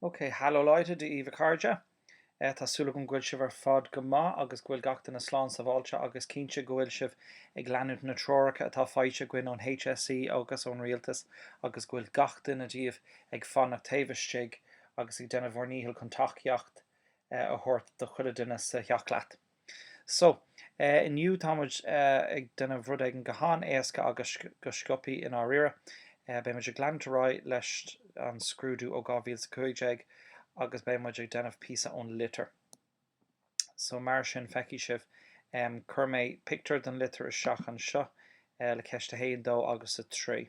OK, haló Leute, Dia daoibh a chairde. Tá súil agam go bhfuil sibh ar fad go maith agus go bhfuil gach duine slán sábháilte agus cinnte go bhfuil sibh ag leanúint na treoracha atá faighte againn ón HSE agus ón Rialtas agus go bhfuil gach duine díobh ag fanacht taobh istigh agus ag déanamh bhur ndícheall chun tacaíocht a thabhairt do chuile duine sa theach leat. So, inniu tá muid ag déanamh rud éigin go han-éasca agus go sciopthaí i ndáiríre. Beidh muid ag leanúint ar aghaidh leis an scrúdú ó 2015 agus beidh muid ag déanamh píosa ón litir. So, mar sin, feicfidh sibh, chuir mé pictiúr den litir isteach anseo le ceist a haon, dó agus a trí.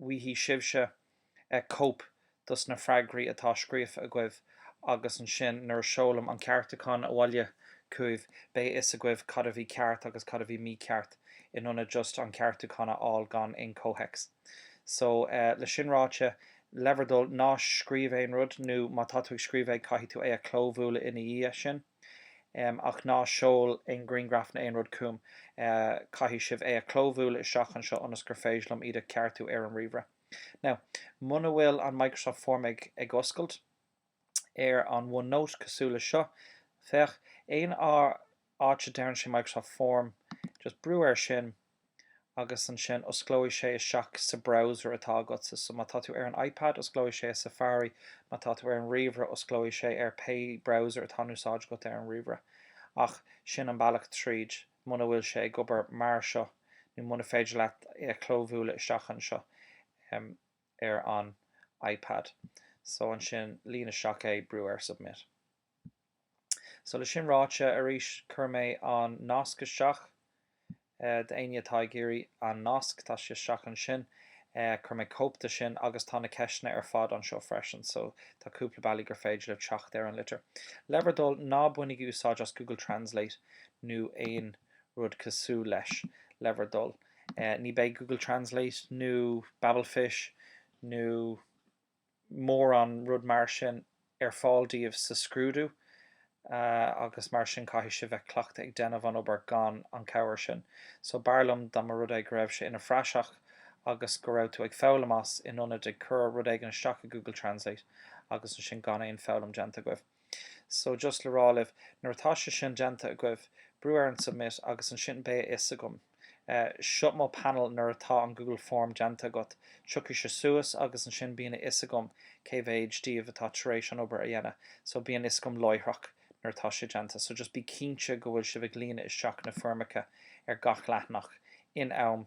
bhfaighidh sibhse cóip dos na freagraí atá scríofa agaibh agus ansin nuair a seolaim an ceartúchán abhaile chugaibh beidh a fhios agaibh cad a bhí ceart agus cad a bhí mícheart in ionad just an ceartúchán a fháil gan aon chomhthéacs. So, le sin ráite, le bhur dtoil, ná scríobh aon rud nó má tá tú ag scríobh é caithfidh tú é a chlóbhualadh ina dhiaidh sin. ach ná seol aon ghrianghraif ná aon rud chugam, caithfidh sibh é a chlóbhualadh isteach anseo ionas gur féidir liom iad a cheartú ar an ríomhaire. Now, muna bhfuil an Microsoft Form ag oscailt ar an OneNote cosúil le seo, féach, aon áit a deireann sé Microsoft Form, just brú air sin, agus ansin osclóidh sé isteach sa browser atá agatsa. So má tá tú ar an iPad, osclóidh sé i Safari, má tá tú ar an ríomhaire, osclóidh sé ar pé browser atá in úsáid agat ar an ríomhaire. Ach sin an bealach tríd, muna bhfuil sé ag obair mar seo, nó muna féidir leat é a chlóbhualadh isteach anseo ar an iPad. So ansin líon isteach é, brú ar submit. So le sin ráite, arís, chuir mé an nasc isteach. D'éinne atá ag iarraidh an nasc, tá sé isteach ansin. Chuir mé cóip de sin agus tá na ceisteanna ar fad anseo freisin, so tá cúpla bealaí gur féidir libh teacht ar an litir. Le bhur dtoil, ná bainigí úsáid as Google Translate nó aon rud cosúil leis, le bhur dtoil. Ní bheidh Google Translate nó Babelfish nó. mórán rud mar sin ar fáil daoibh sa scrúdú agus mar sin caithfidh sibh bheith cleachtaithe ag déanamh an obair gan an cabhair sin. So b'fhearr liom dá mba rud é go raibh sé ina phraiseach agus go raibh tú ag foghlaim as in ionad ag cur rud éigin isteach i Google Translate agus ansin gan aon foghlaim déanta agaibh. So, just le rá libh, nuair atá sé sin déanta agaibh, brú ar an Submit agus ansin beidh a fhios agam. Seo mo panel nuair atá an Google Form déanta agat. Tiocfaidh sé suas agus ansin bíonn a fhios agam cé mhéid díobh atá tar éis an obair a dhéanamh. So, bíonn fhios agam láithreach nuair atá sé déanta. So, just bí cinnte go bhfuil sibh ag líonadh isteach na foirmeacha ar gach leathanach in am.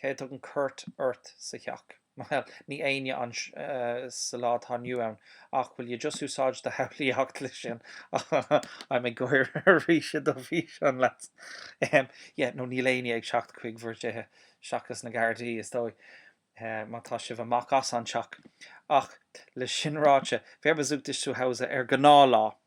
Cé a dtugann cuairt ort sa theach? Bhuel, níl éinne ann sa lá atá inniu ann, ach will you just úsáid do shamhlaíocht leis sin? I'm ag cur isteach do bhíse leat. Yeah, nó níl éinne ag teacht chuig bhur dtithe seachas na Gardaí, is dóigh, má tá sibh amach as an teach. Ach, leis sin ráite, wer besucht dich zu Hause ar ghnáth lá?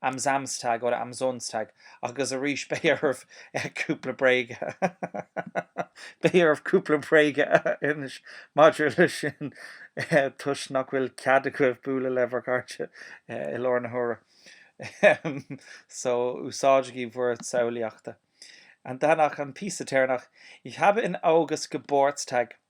am Samstag oder am Sonntag agus arís beidh oraibh cúpla bréige beidh oraibh cúpla bréige a insint maidir leis sin toisc nach bhfuil cead agaibh bualadh le bhur gcairde i lár na huaire so úsáidigí bhur samhlaíochta. Und danach, an píosa deireanach, Ich habe im August Geburtstag.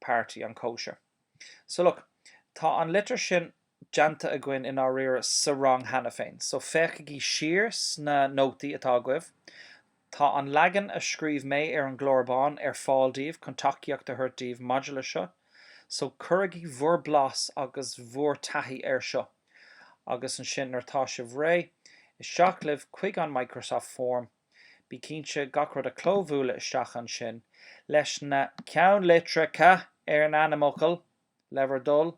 party, an chóisir. So look, tá an litir sin déanta againn i ndáiríre sa rang cheana féin. So féachaigí siar sna nótaí atá agaibh. Tá an leagan a scríobh mé ar an gclár bán ar fáil daoibh chun tacaíocht a thabhairt daoibh maidir leis seo. So cuirigí bhur blas agus bhur taithí air seo. Agus ansin nuair atá sibh réidh, isteach libh chuig an Microsoft Form. Bí cinnte gach rud a chlóbhualadh isteach ansin, leis na ceannlitreacha ar an ainmfhocal, le bhur dtoil,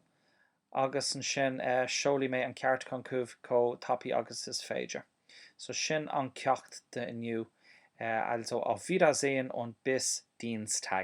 agus ansin seolfaidh mé an ceartúchán chugaibh chomh tapaidh agus is féidir. So sin an ceacht d'inniu, also auf Wiedersehen und bis Dienstag!